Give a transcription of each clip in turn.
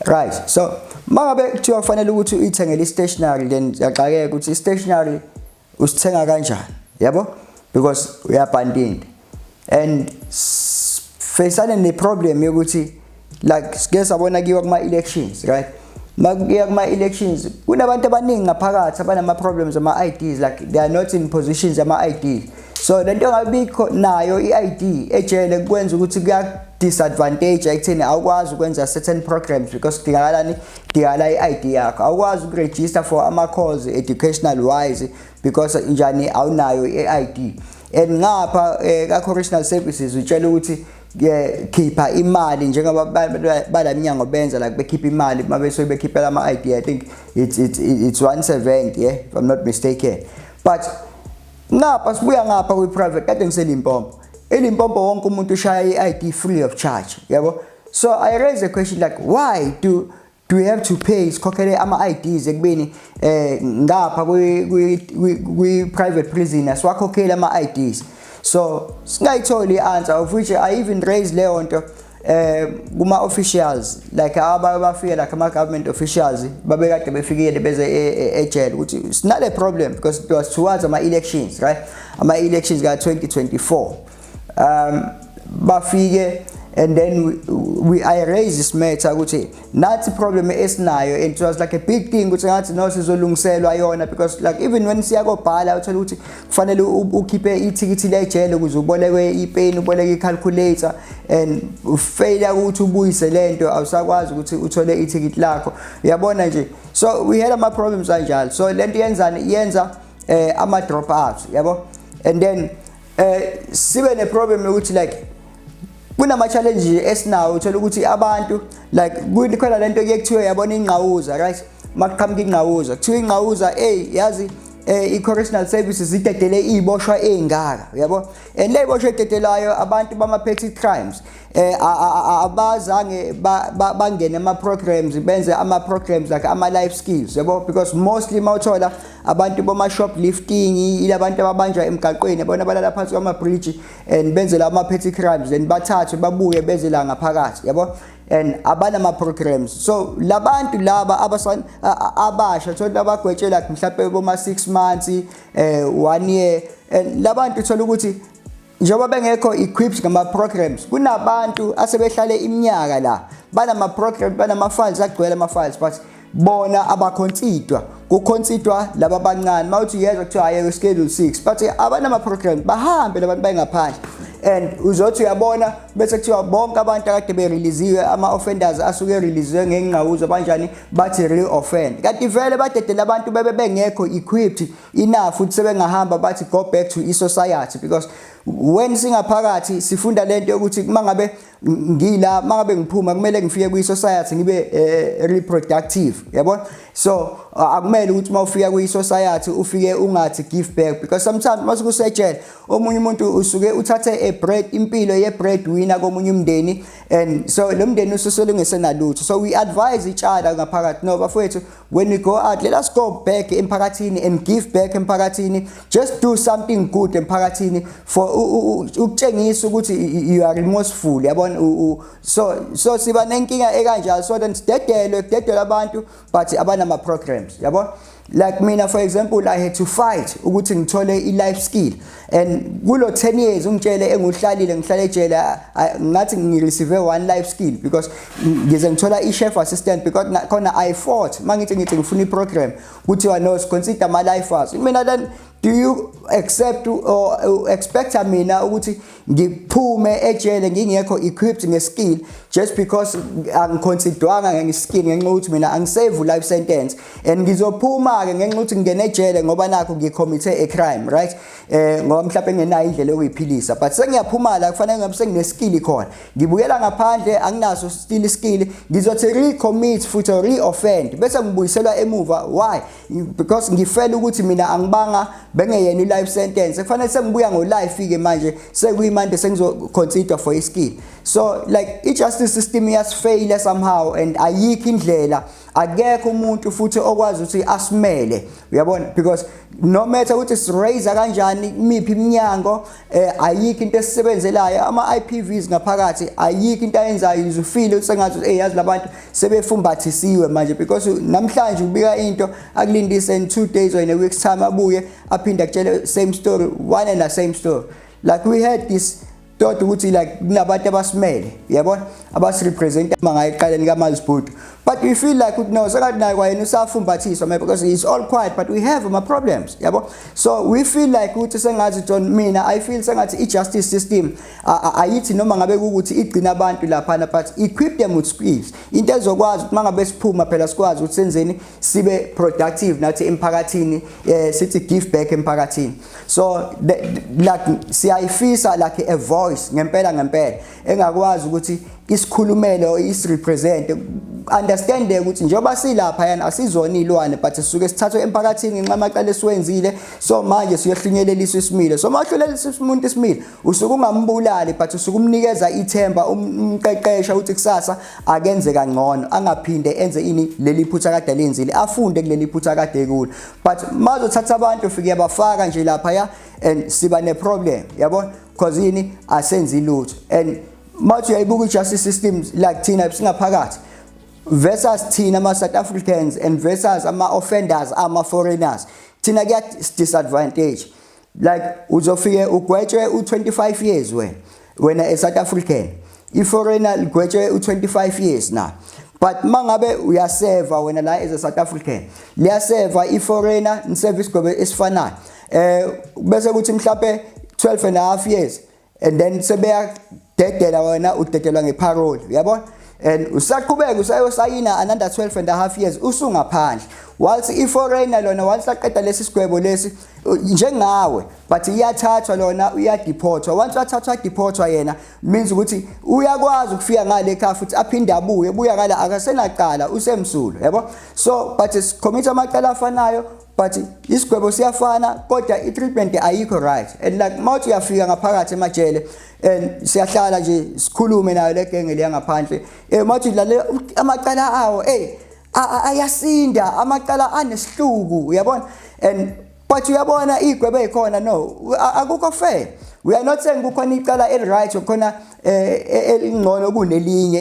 right so mangabe kuthiwa kufanele ukuthi uyithengele i-stationary then yaxakeka ukuthi i-stationary usithenga kanjani yabo because uyabhandinda and facane ne-problem yokuthi like sike sabona kiwa kuma-elections right makuya kuma-elections kunabantu abaningi ngaphakathi abanama-problems ama-ids like they are not in positions ama-id so le nto engabikho nayo i-id ejele kwenza ukuthi kuya-disadvantage ekutheni awukwazi ukwenza certain programs because kudingakalani kudingakala i-id yakho awukwazi ukurejista for ama-calls educational wise because njani awunayo i-id and ngapha eh, ka-correctional services utshela ukuthi khipha imali njengoba balaminyango benza like bekhipha imali uma besuke bekhiphela ama-id i think it's, it's, it's once a event yeah if i'm not mistaken but ngapha sibuya ngapha kwi-private kade ngiselimpompo ilimpompo wonke umuntu ushaya i-id free of charge yabo so i raise a question like why do do you have to pay sikhokhele ama-ids ekubeni eh ngapha kwi-private prison asiwakhokheli ama-ids so singayitholi i-answer of which i even raise leyo nto eh kuma-officials like aba bafike like ama-government officials babekade befikile beze e, e, ejele ukuthi sinale problem because it was towards ama-elections right ama-elections ka-2024 um bafike and then we, we I raise this matter ukuthi nathi problem esinayo and it was like a big thing ukuthi ngathi no sizolungiselwa yona because like even when siya kobhala uthola ukuthi kufanele ukhiphe ithikithi lejele ukuze ubolekwe ipeni uboleke icalculator and failure ukuthi ubuyise lento awusakwazi ukuthi uthole ithikithi lakho uyabona nje so we had ama problems kanjalo so lento yenzani yenza eh, ama drop outs yabo and then eh sibe ne problem yokuthi like kunama challenge esinawo uthola ukuthi abantu like kukhona lento ekuthiwa yabona ingqawuza right makuqhamuka ingqawuza kuthiwa ingqawuza hey yazi eh i-correctional services idedele iboshwa engaka uyabo and le boshwa ededelayo abantu bama-petty crimes eh abazange bangene ama programs benze ama programs like ama life skills yabo because mostly mawuthola abantu boma shoplifting ilabantu ababanjwa emgaqweni bona balala phansi kwama bridge and benze la ama petty crimes then bathathwe babuye beze la ngaphakathi yabo and abana ama programs so labantu laba abasan abasha thola abagwetshela mhlawumbe boma 6 months eh 1 year and labantu thola ukuthi Njengoba bengekho equipped ngama programs kunabantu asebehlale iminyaka la banama programs banama files agcwele ama files but bona abakhonsidwa kukhonsidwa laba bancane mawuthi uyezwa kuthiwa aye schedule 6 but abanama programs bahambe labantu bayengaphandle and uzothi uyabona bese kuthiwa bonke abantu akade bereleasiwe ama-offenders asuke ereleasiwe ngengqawuzo banjani bathi re-offend kanti vele badedela abantu bebe bengekho equipped enough futhi sebengahamba bathi go back to isociety because when singaphakathi sifunda lento yokuthi uma ngabe ngila uma ngabe ngiphuma kumele ngifike kwi-society ngibe uh, reproductive yabona so uh, akumele ukuthi uma ufika kwi-society ufike ungathi give back because sometimes uma sikusetshela omunye umuntu usuke uthathe a bread impilo ye-bread winner komunye umndeni and so lo mndeni ususelungesenalutho so we advise each other ngaphakathi no bafowethu when we go out let us go back emphakathini and give back emphakathini just do something good emphakathini for ukutshengisa ukuthi you are remorseful yabona so so siba nenkinga ekanjalo so then sidedelwe kudedelwa abantu but abanama programs yabona like mina for example i had to fight ukuthi ngithole i life skill and kulo 10 years ungitshele enguhlalile ngihlale ejele ngathi ngireceive one life skill because ngize ngithola i-chef assistant because khona i fought uma ngithi ngithi ngifuna i-program kuthiwa no siconsider ama-lifers mina then do you accept or expect mina ukuthi ngiphume ejele ngingekho equipped ngeskill just because angiconsidwanga ngeskill ngenxa ukuthi mina angisave life sentence and ngizophuma ke ngenxa ukuthi ngingena ejele ngoba nakho ngikhomithe a crime right eh ngoba mhlawumbe ngenayo indlela yokuyiphilisa but sengiyaphuma la kufanele ngabe sengine skill khona ngibuyela ngaphandle anginaso still skill ngizothi recommit futhi reoffend bese ngibuyiselwa emuva why because ngifela ukuthi mina angibanga bengeyena life sentence kufanele sengibuya ngo life ke manje sekuyimande sengizo consider for i skill so like i justice system yasifeyile somehow and ayikho indlela akekho umuntu futhi okwazi ukuthi asimele uyabona because no matter ukuthi siraise kanjani imiphi iminyango eh ayikho into esisebenzelayo ama IPVs ngaphakathi ayikho into ayenzayo izufile usengathi eh yazi labantu sebefumbathisiwe manje because namhlanje ubika into akulindise in 2 days or in a week's time abuye aphinde akutshele same story one and the same story like we had this todwa ukuthi like kunabantu abasimele yabona abasirepresent mangayiqaleni kamazibhudu but we feel like ukuthi no sekathi naye kwayena usafumbathiswa maybe because he's all quiet but we have ama problems yabo so we feel like ukuthi sengathi John mina i feel sengathi i justice system ayithi noma ngabe ukuthi igcina abantu lapha na but equip them with skills into ezokwazi ukuthi mangabe siphuma phela sikwazi ukuthi senzeni sibe productive nathi emphakathini eh, sithi give back emphakathini so the, like siyayifisa like a voice ngempela ngempela engakwazi ukuthi isikhulumele or isirepresent understandeke ukuthi njengoba silapha yana asizona ilwane but sisuke sithathwe emphakathini ngenxa amacala esiwenzile so manje siyohlunyeleliswa isimilo so mawuhlulelisa umuntu isimilo usuke ungambulali but usuke umnikeza ithemba um, umqeqesha ukuthi kusasa akenze kangcono angaphinde enze ini leli phutha kade lenzile afunde kuleli phutha kade kulo but mazothatha abantu ufike yabafaka nje lapha ya and siba ne problem yabo because yini asenzi lutho and mawuthi uyayibuka i-justice system like thina singaphakathi versus thina ama-south africans and versus ama-offenders ama-foreigners thina kuya-disadvantage like uzofike ugwetshwe u25 years wena wena eSouth African iforeigner ligwetshwe u25 years na but mangabe uyaseva wena la as a South African liyaseva iforeigner niservice gobe esifanayo eh bese kuthi mhlape 12 and a half years and then sebeyadedela wena udedelwa ngeparole uyabona and usaqhubeka usayosayina another 12 and a half years usungaphandle whilst i-foreigner lona whilst aqeda lesi sigwebo lesi njengawe but iyathathwa lona uyadiphothwa once wathathwa adiphothwa yena means ukuthi uyakwazi ukufika ngale ekhaya futhi aphinde abuye buya ngala akasenacala usemsulo yabo so but sikhomisa amacala afanayo but isigwebo siyafana kodwa i-treatment ayikho right and like mawuthi uyafika ngaphakathi emajele and siyahlala nje sikhulume nayo le genge leya ngaphandle um mawuthi lale amacala awo eyi ayasinda amacala anesihluku uyabona and but uyabona iy'gwebo ey'khona no akukho fair we are not saying kukhona icala eli-right khona eh, eh elingcono kunelinye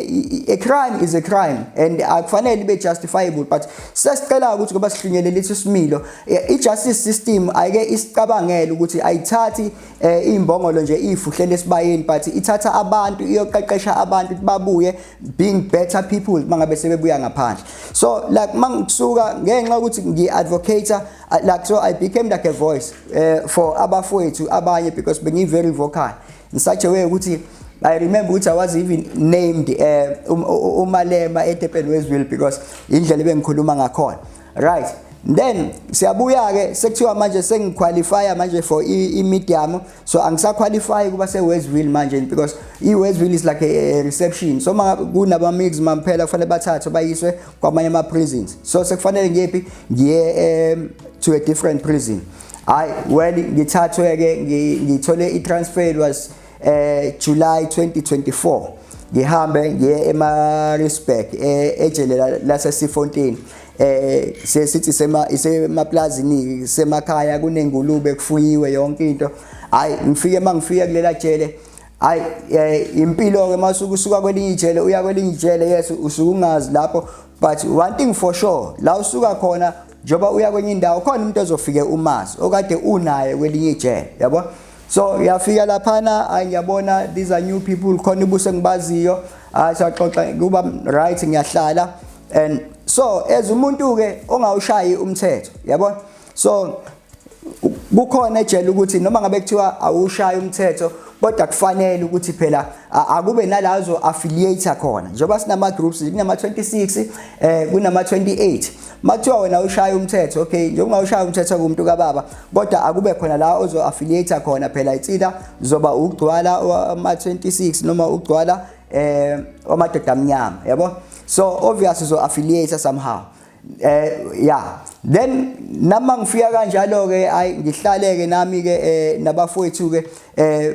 a crime is a crime and akufanele ibe justifiable but sesicela ukuthi kuba sihlunyele lithi similo eh, i justice system ayike isicabangele ukuthi ayithathi eh, imbongolo nje ifuhlele esibayeni but ithatha abantu iyoqeqesha abantu babuye being better people mangabe sebebuya ngaphandle so like mangisuka ngenxa ukuthi ngi advocator like so i became like a voice uh, for abafowethu abanye because bengi very vocal in such a way ukuthi I remember ukuthi I was even named eh, um, umalema etepeni wezwil because indlela ebengikhuluma ngakhona right then siyabuya ke sekuthiwa manje sengiqualifya manje for i-medium so angisaqualify kuba se-westville manje because i-westville is like a, a reception so kunabamix mamphela kufanele bathathwe bayiswe kwamanye ama-prisons so sekufanele ngiyephi ngiye um, to a different prison hayi well ngithathwe ke ngithole i-transfer was eh July 2024 ngihambe ngiye eMaritzburg eh, ejele laseSifontein eh sesithi sema isemaplazini semakhaya kunengulube kufuyiwe yonke into hayi ngifike mangifike kulela jele hayi eh, impilo ke masukusuka kwelinye ijele uya kwelinye ijele yes usukungazi lapho but one thing for sure la usuka khona njengoba uya kwenye indawo khona umuntu ozofike umazi okade unaye kwelinye ijele yabo so uyafika laphana ayi ngiyabona these are new people khona ibuso engibaziyo ayi saxoxa kuba right ngiyahlala and so as umuntu ke ongawushayi umthetho yabona so kukhona ejele ukuthi noma ngabe kuthiwa awushaya umthetho kodwa kufanele ukuthi phela akube nalazo affiliate khona njengoba sinama groups kunama 26 eh kunama 28 makuthiwa wena ushaya umthetho okay njengoba ushaya umthetho kumuntu kababa kodwa akube khona la ozo affiliate khona phela itsida zoba ukugcwala ama 26 noma ukugcwala eh amadoda amnyama yabo so obvious uzo affiliate somehow eh ya then nama ngifika kanjalo ke ay ngihlale ke nami ke eh, nabafowethu ke eh,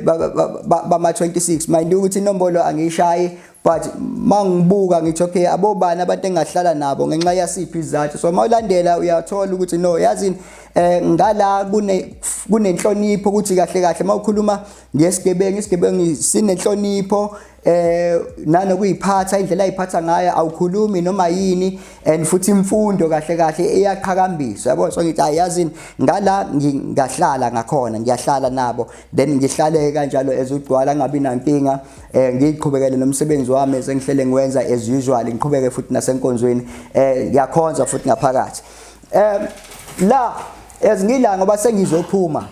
bama 26 mind ukuthi inombolo angishayi but mangibuka ngithi okay abobani abantu engahlala nabo ngenxa yasiphi izathu so mawulandela uyathola ukuthi no yazini eh ngala kune kunenhlonipho ukuthi kahle kahle mawukhuluma ngesigebengu isigebengu sinenhlonipho eh nanokuyiphatha indlela ayiphatha ngayo awukhulumi noma yini and futhi imfundo kahle kahle iyaqhakambiswa yabo so ngithi ayazini ngala ngingahlala ngakhona ngiyahlala nabo then ngihlale kanjalo ezugcwala ngabi nankinga eh ngiqhubekele nomsebenzi wami sengihlele ngiwenza as usual ngiqhubeke futhi nasenkonzweni eh ngiyakhonza futhi ngaphakathi eh la ezingila ngoba sengizophuma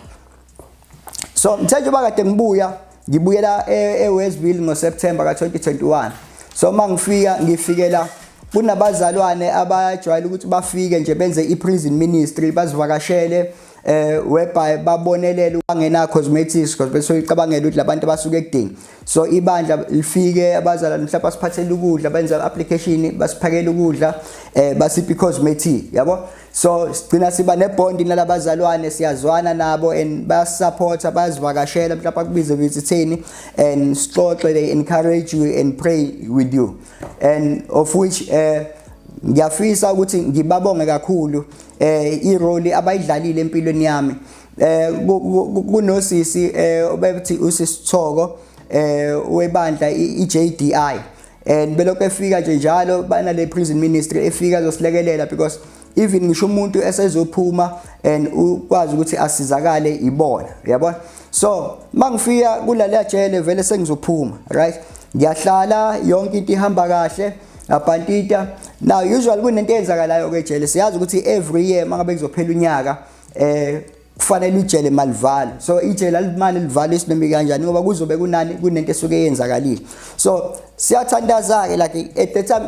so mthe njengoba kade ngibuya ngibuyela e, ewestville ngoseptember ka-2021 so uma ngifika ngifikela kunabazalwane abajwayele ukuthi bafike nje benze i-prison ministry bazivakashele eh whereby babonelele ukungena cosmetics because bese uyicabangela ukuthi labantu abasuke ekudingi so ibandla lifike abazala mhlawumbe basiphathele ukudla benza application basiphakela ukudla eh basiphi cosmetic yabo so sigcina siba nebond nalabazalwane siyazwana nabo and bayasupporta bayazivakashela mhlawumbe akubize visitheni and sixoxe they encourage you and pray with you and of which eh ngiyafisa ukuthi ngibabonge kakhulu eh irole abayidlalile empilweni yami eh kunosisi eh obethi usisithoko eh webandla iJDI and belokhu efika nje njalo banale prison ministry efika zosilekelela because even ngisho umuntu esezophuma and ukwazi ukuthi asizakale ibona uyabona so mangifika kulala jele vele sengizophuma right ngiyahlala yonke into ihamba kahle abhantita now usually kunento eyenzakalayo ke jele siyazi ukuthi every year mangabe kuzophela unyaka eh kufanele ijele malivale so ijele alimane livale isinemi kanjani ngoba kuzobe kunani kunento esuke yenzakalile so siyathandaza ke like at the time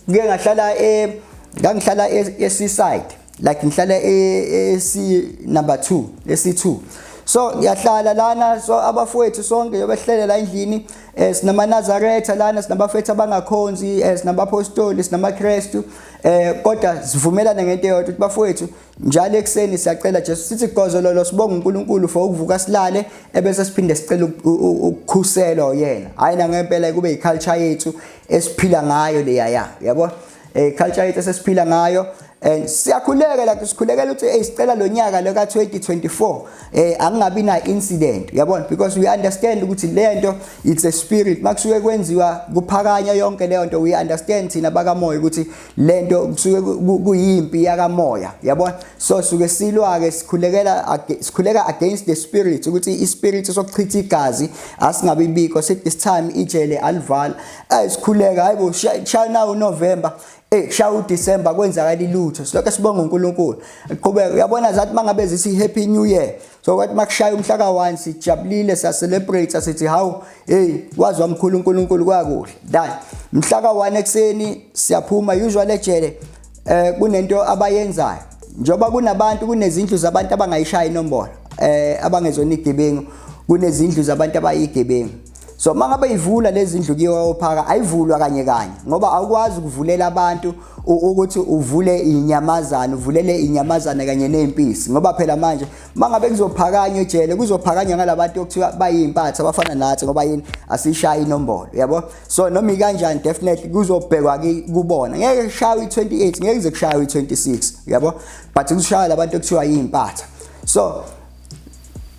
ngike ngahlala e ngangihlala e, e seaside like ngihlala e, e C number 2 e C2 so ngiyahlala lana so abafowethu sonke yobehlele la endlini eh sinamanazaretha lana sinabafethu abangakhonzi eh sinabapostoli sinamaKristu eh kodwa sivumelana ngento eyodwa ukuthi bafowethu njalo ekuseni siyacela Jesu sithi gozololo sibonga uNkulunkulu for ukuvuka silale ebese siphinde sicela ukukhuselwa yena hayi na ngempela kube iculture yethu esiphila ngayo leya ya yabo eh culture yethu sesiphila ngayo and siyakhuleka la sikhulekela ukuthi hey sicela lonyaka lo ka 2024 eh angingabi na incident yabona because we understand ukuthi le nto it's a spirit makusuke kwenziwa kuphakanya yonke leyo nto we understand thina bakamoya ukuthi lento kusuke kuyimpi yakamoya yabona so suke silwa ke sikhulekela sikhuleka against the spirit ukuthi i spirit sokuchitha igazi asingabe ibiko sit this time ijele alivala ay sikhuleka hayibo shaya now November Eh shaya uDecember kwenzakala ilutho silokho sibonga uNkulunkulu qhubeka uyabona zathi mangabe zithi happy new year so kwathi makushaya umhla ka-1 sijabulile siyacelebrate sithi hawu hey wazi wamkhulu unkulunkulu kwakuhle dan mhla ka-1 ekuseni siyaphuma usual ejele um kunento abayenzayo njengoba kunabantu kunezindlu zabantu abangayishaya inombolo um abangezona igebengu kunezindlu zabantu abayigebengu so uma ngabe ivula lezi ndlu kiyo ophaka ayivulwa kanye kanye ngoba awukwazi ukuvulela abantu ukuthi uvule inyamazana uvulele inyamazana kanye nezimpisi ngoba phela manje mangabe kuzophakanywa ejele kuzophakanywa ngalabantu okuthiwa bayimpatha abafana nathi ngoba yini asishaye inombolo yabo so noma ikanjani definitely kuzobhekwa kubona ngeke kushawe i28 ngeke kuze kushawe i26 yabo but kushaya labantu okuthiwa yimpatha so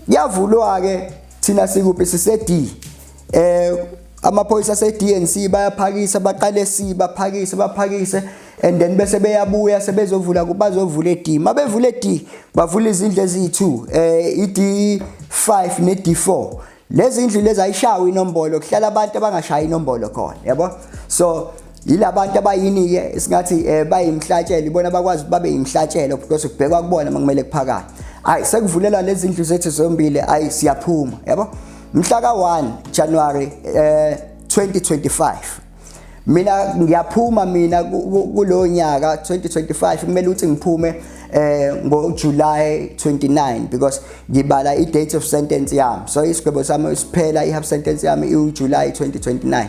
yavulwa ke thina sikuphi sise D eh amaphoyisa se DNC bayaphakisa baqale C baphakise baphakise and then bese beyabuya sebezovula kubazovula eD mabevula eD bavula izindlu eziyi2 eh iD 5 ne D4 lezi ndlu lezi ayishawa inombolo kuhlala abantu abangashayi inombolo khona yabo so yilabantu abayini-ke singathi um eh, bayimhlatshelo ibona bakwazi babe yimhlatshelo because kubhekwa kubona uma kumele kuphakade hayi sekuvulela lezi ndlu zethu zombili hayi siyaphuma yabo mhla ka-1 january um eh, 2025 mina ngiyaphuma mina kulowo nyaka 2025 kumele ukuthi ngiphume eh ngoJuly 29 because ngibala i date of sentence yami so isigwebo sami siphela i half sentence yami iuJuly 2029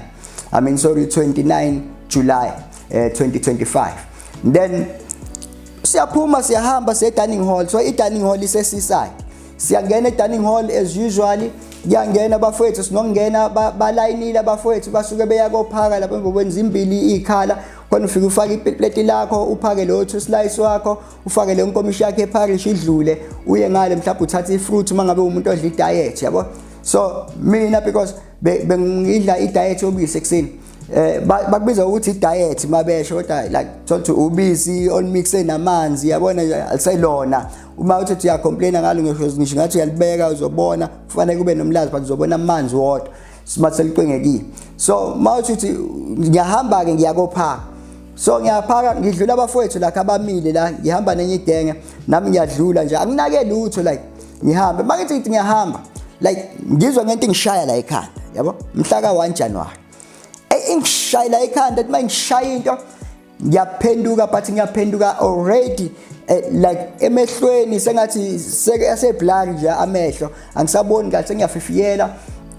I mean sorry 29 July eh, 2025 then siyaphuma siyahamba siye dining hall so i dining hall isesiside siyangena e-dining hall as usually kuyangena abafowethu sinokungena balayinile abafowethu basuke beya kophaka lapho emva kwenza imbili ikhala khona ufike ufake ipleti lakho uphake leyo two slice wakho ufake leyo nkomishi yakhe eparish idlule uye ngale mhlawumbe uthathe ifruit uma ngabe umuntu odla idiet yabo so mina because bengidla i-diet yobisi ekuseni eh bakubiza ukuthi i-diet mabesho kodwa like thothi ubisi olumixed namanzi yabona aliselona uma uthi uya complain ngalo ngisho ngisho ngathi uyalibeka uzobona kufanele kube nomlazi but uzobona amanzi wodwa simaselicwengekile so mawuthi uthi ngiyahamba ke ngiyakophaka so ngiyaphaka ngidlula abafowethu lakhe abamile la ngihamba nenye idenge nami ngiyadlula nje anginake lutho like ngihambe makithi ngithi ngiyahamba like ngizwa ngento ingishaya la ekhanda yabo mhla ka 1 January hey ingishaya la ekhanda uma ngishaya into ngiyaphenduka but ngiyaphenduka already eh, like emehlweni sengathi seke aseblur nje amehlo angisaboni kahle sengiyafifiyela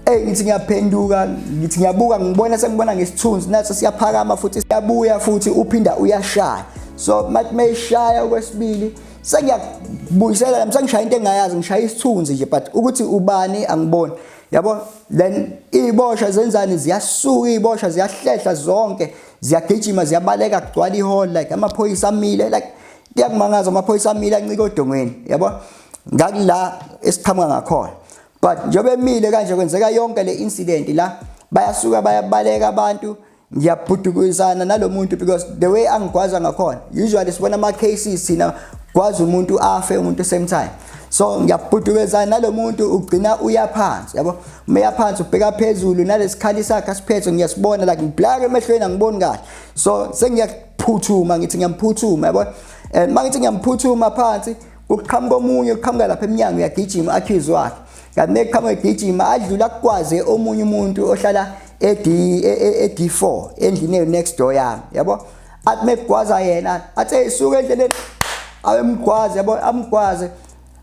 Hey ngithi ngiyaphenduka ngithi ngiyabuka ngibona sengibona ngesithunzi naso siyaphakama futhi siyabuya futhi uphinda uyashaya so mathi mayishaya okwesibili sengiyakubuyisela nami sengishaya into engayazi ngishaya isithunzi nje but ukuthi ubani angiboni yabo then iy'bosha zenzani ziyasuka iy'bosha ziyahlehla zonke ziyagijima ziyabaleka kugcwala ihall like amaphoyisa amile like kuyakumangaza amaphoyisa amile ancike odongweni yabo ngakula esiqhamuka ngakhona but njengoba emile kanje kwenzeka yonke le incident la bayasuka bayabaleka abantu ngiyabhudukuzana nalo muntu because the way angigwaza ngakhona usually sibona ama cases thina kwazi umuntu afe umuntu same time so ngiyabhudukezana nalo muntu ugcina uya phansi yabo uma uya phansi ubheka phezulu nalesikhali sakhe asiphethe ngiyasibona like ngiblake emehlweni angiboni kahle so sengiyaphuthuma ngithi ngiyamphuthuma yabo and mangithi ngiyamphuthuma phansi Kuqhamuka omunye uqhamuka lapha emnyango uyagijima accuse wakhe. Kanti neqhamuka egijima adlula kukwaze omunye umuntu ohlala ed ed4 endlini next door yami yabo athi mekugwaza yena athi isuke endleleni awemgwaze yabo amgwaze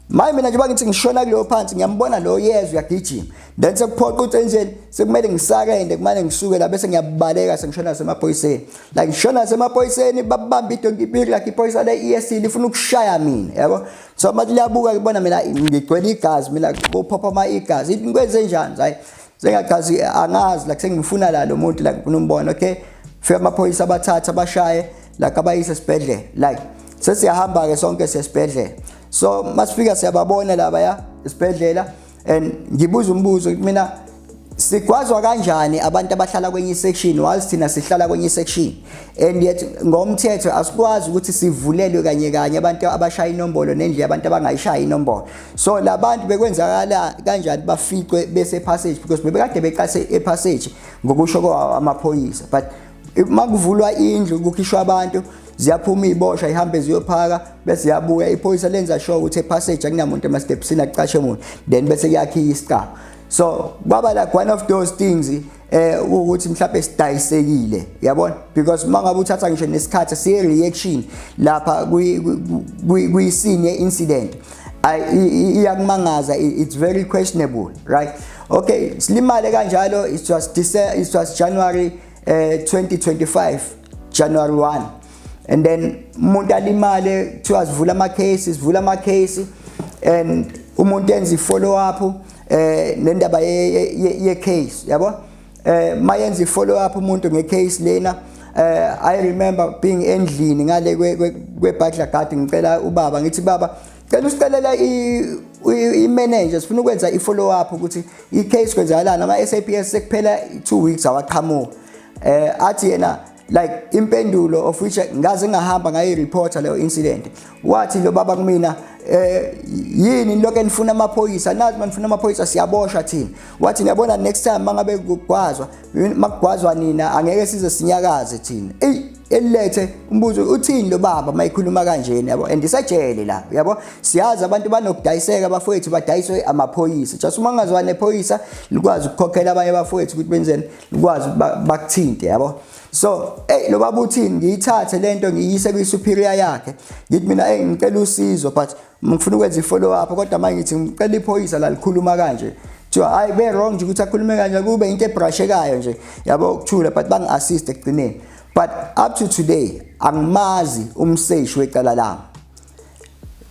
maye mina njengoba ngithi ngishona kuleyo phansi ngiyambona lo yezwe uyagijima then sekuphoqa ukuthi enjeni sekumele ngisakende kumane ngisuke la bese ngiyabaleka sengishona nasemaphoyiseni like shona nasemaphoyiseni babamba idonki big like iphoyisa le ESC lifuna ukushaya mina yabo so uma liyabuka kubona mina ngigcwele igazi mina kuphopha ama igazi ngikwenze njani hayi sengachazi angazi like sengimfuna la lo muntu like ngifuna umbona okay fika amaphoyisa abathatha bashaye like abayise esibhedlela like sesiyahamba ke sonke sesibhedlela so masifika siyababona laba ya esibhedlela and ngibuza umbuzo mina sigwazwa kanjani abantu abahlala kwenye section whilst thina sihlala kwenye section and yet ngomthetho asikwazi ukuthi sivulelwe kanye kanye abantu abashaya inombolo nendlela abantu abangayishaya inombolo so labantu bekwenzakala kanjani baficwe bese passage because bebekade beqase e passage ngokusho kwamaphoyisa but makuvulwa indlu kukhishwa abantu ziyaphuma iy'boshwa ihambe ziyophaka bese yabuya iphoyisa lenza sure ukuthi epassage akunamuntu emastepsini akucashe muntu then bese kuyakhiya isicaba so kwaba like one of those things eh ukuthi mhlawumbe sidayisekile yabona because mangabe uthatha ngisho nesikhathi siye reaction lapha kwi kwi scene incident iyakumangaza it's very questionable right okay silimale kanjalo it was December, it was January uh, eh, 2025 January 1 and then umuntu alimale kuthiwa sivula ama cases vula ama case and umuntu enza i follow up eh nendaba ye case yabo eh mayenza i follow up umuntu nge case lena eh i remember being endlini ngale kwe butler guard ngicela ubaba ngithi baba cela usicelela i manager sifuna ukwenza i follow up ukuthi i case kwenzakalana ama SAPS sekuphela 2 weeks awaqhamuka eh athi yena like impendulo of which ngaze ngahamba ngayi reporter leyo incident wathi lo baba kumina eh yini lokho enifuna amaphoyisa nazi manifuna amaphoyisa siyaboshwa thina wathi niyabona next time mangabe kugwazwa makugwazwa nina angeke size sinyakaze thina ey elilethe umbuzo uthini lo baba mayikhuluma kanjena yabo and isajele la yabo siyazi abantu banokudayiseka abafowethu badayiswe amaphoyisa just uma ngazwa nephoyisa likwazi ukukhokhela abanye abafowethu ukuthi benzeni ukwazi bakuthinte yabo so hey lo baba uthini ngiyithathe lento ngiyise kwi superior yakhe ngithi mina hey ngicela usizo but ngifuna ukwenza ifollow up kodwa manje ngithi ngicela iphoyisa la likhuluma kanje kuthiwa hayi be wrong nje ukuthi akhulume kanje kube into ebrashekayo nje yabo ukuthula but bangi assist ekugcineni but up to today angimazi umseshi wecala lami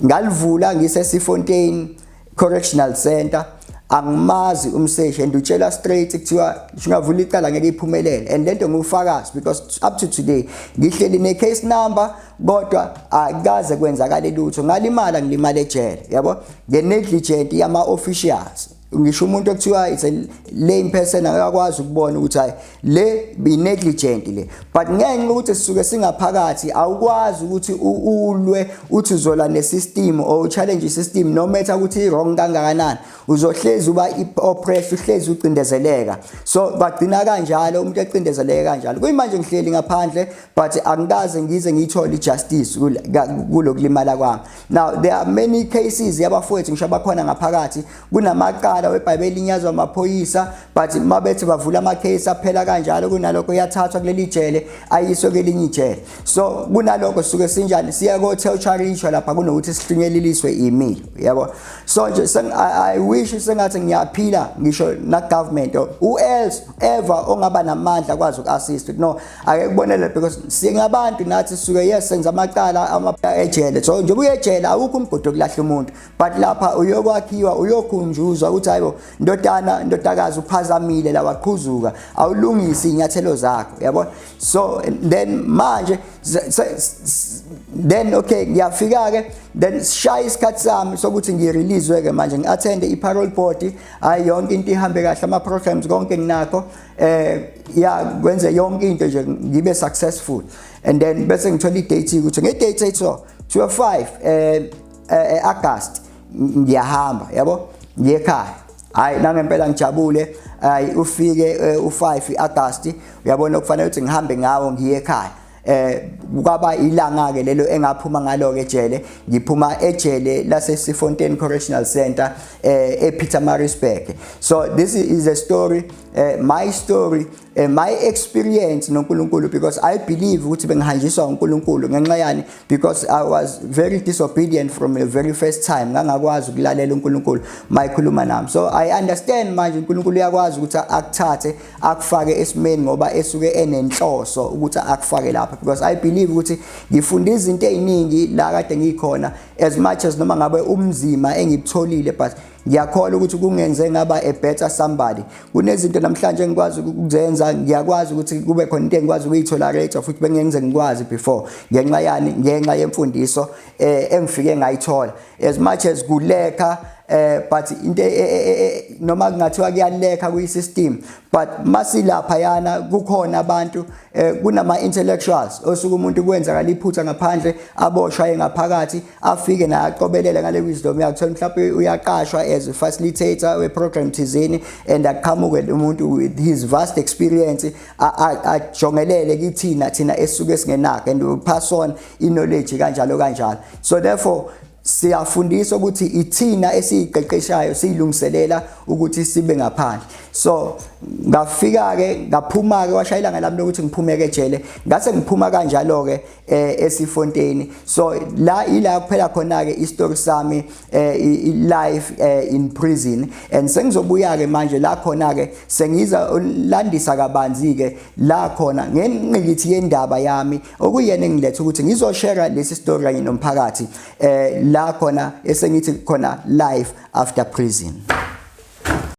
ngalivula ngiseSifontein Correctional Center angimazi umseshi and utshela straight kuthiwa ngingavula icala ngeke iphumelele and lento ngufakazi because up to today ngihleli ne case number kodwa akaze kwenzakale lutho ngalimala ngilimale ejele yabo nge negligent yama officials ngisho umuntu okuthiwa it's a lame person akakwazi ukubona ukuthi hayi le be negligent le but ngenxa ukuthi sisuke singaphakathi awukwazi ukuthi ulwe uthi uzola nesystem or challenge system no matter ukuthi wrong kangakanani uzohlezi uba oppressed uhlezi ucindezeleka so bagcina kanjalo umuntu ecindezeleke kanjalo kuyimanje ngihleli ngaphandle but angikaze ngize ngiyithole ijustice kulokulimala kwami Now there are many cases yabafowethu ngisho abakhona ngaphakathi kunamacala weBhayibheli linyazwa amaphoyisa but mabethi bavula ama case aphela kanjalo kunalokho yathathwa kuleli jele ayiswe kelinye ijele so kunalokho suke sinjani siya ko tertiary isho lapha kunokuthi sihlingeliliswe imilo yabo so nje I wish sengathi ngiyaphila ngisho na government who else ever ongaba namandla kwazi uku assist no ake kubonele because singabantu nathi suke yes senza amacala amabha ejele so njengoba uyejele awukho umgodi okulahla umuntu but lapha uyokwakhiwa uyokhunjuzwa ukuthi hayibo ndodana ndodakazi uphazamile la waqhuzuka awulungisi inyathelo zakho yabo so then manje then okay ngiyafika ke then sishaya isikhathi sami sokuthi ngirelease ke manje ngiattende i-parole board ayi yonke into ihambe kahle ama-programs konke nginakho eh ya kwenze yonke into nje ngibe successful and then bese ngithola idate ukuthi ngedate ethiwa 25 eh, eh August ngiyahamba yabo ngiyekhaya hayi nangempela ngijabule hayi ufike eh, u5 iAugust uyabona kufanele ukuthi ngihambe ngawo ngiye ekhaya eh kwaba ilanga ke lelo engaphuma ngalo ke ejele ngiphuma ejele lase Sifontein Correctional Center eh ePeter Marisburg so this is a story uh, my story uh, my experience noNkulunkulu because I believe ukuthi bengihanjiswa uNkulunkulu ngenxa yani because I was very disobedient from the very first time ngangakwazi ukulalela uNkulunkulu mayikhuluma nami so I understand manje uNkulunkulu uyakwazi ukuthi akuthathe akufake esimeni ngoba esuke enenhloso ukuthi akufake lapha because i believe ukuthi ngifunda izinto eziningi la kade ngikhona as much as noma ngabe umzima engibutholile but ngiyakholwa ukuthi kungenze ngaba a better somebody kunezinto namhlanje engikwazi ukuzenza ngiyakwazi ukuthi kube khona into engikwazi ukuyithola later futhi bengenze ngikwazi before ngenxa yani ngenxa yemfundiso eh engifike ngayithola as much as kulekha eh but into eh, eh, eh, noma kungathiwa kuyalekha kuyi system but masilapha yana kukhona abantu kunama intellectuals osuku umuntu kwenzakala iphutha ngaphandle aboshwa engaphakathi afike naye aqobelele ngale wisdom yakhe thola mhlawumbe uyaqashwa as a facilitator we program thizini and aqhamuke umuntu with his vast experience ajongelele kithina thina esuke singenakho and pass on iknowledge kanjalo kanjalo so therefore siyafundisa ukuthi ithina esiyiqeqeshayo siyilungiselela ukuthi sibe ngaphandle so ngafika ke ngaphuma ke washayela ngelami lokuthi ngiphume ke jele ngase ngiphuma kanjalo ke eh, esifonteni so la ila kuphela khona ke istory sami eh, life eh, in prison and sengizobuya ke manje la khona ke sengiza landisa kabanzi ke la khona ngenqikithi yendaba yami okuyena engilethe ukuthi ngizoshare lesi story kanye nomphakathi eh la khona esengithi khona life after prison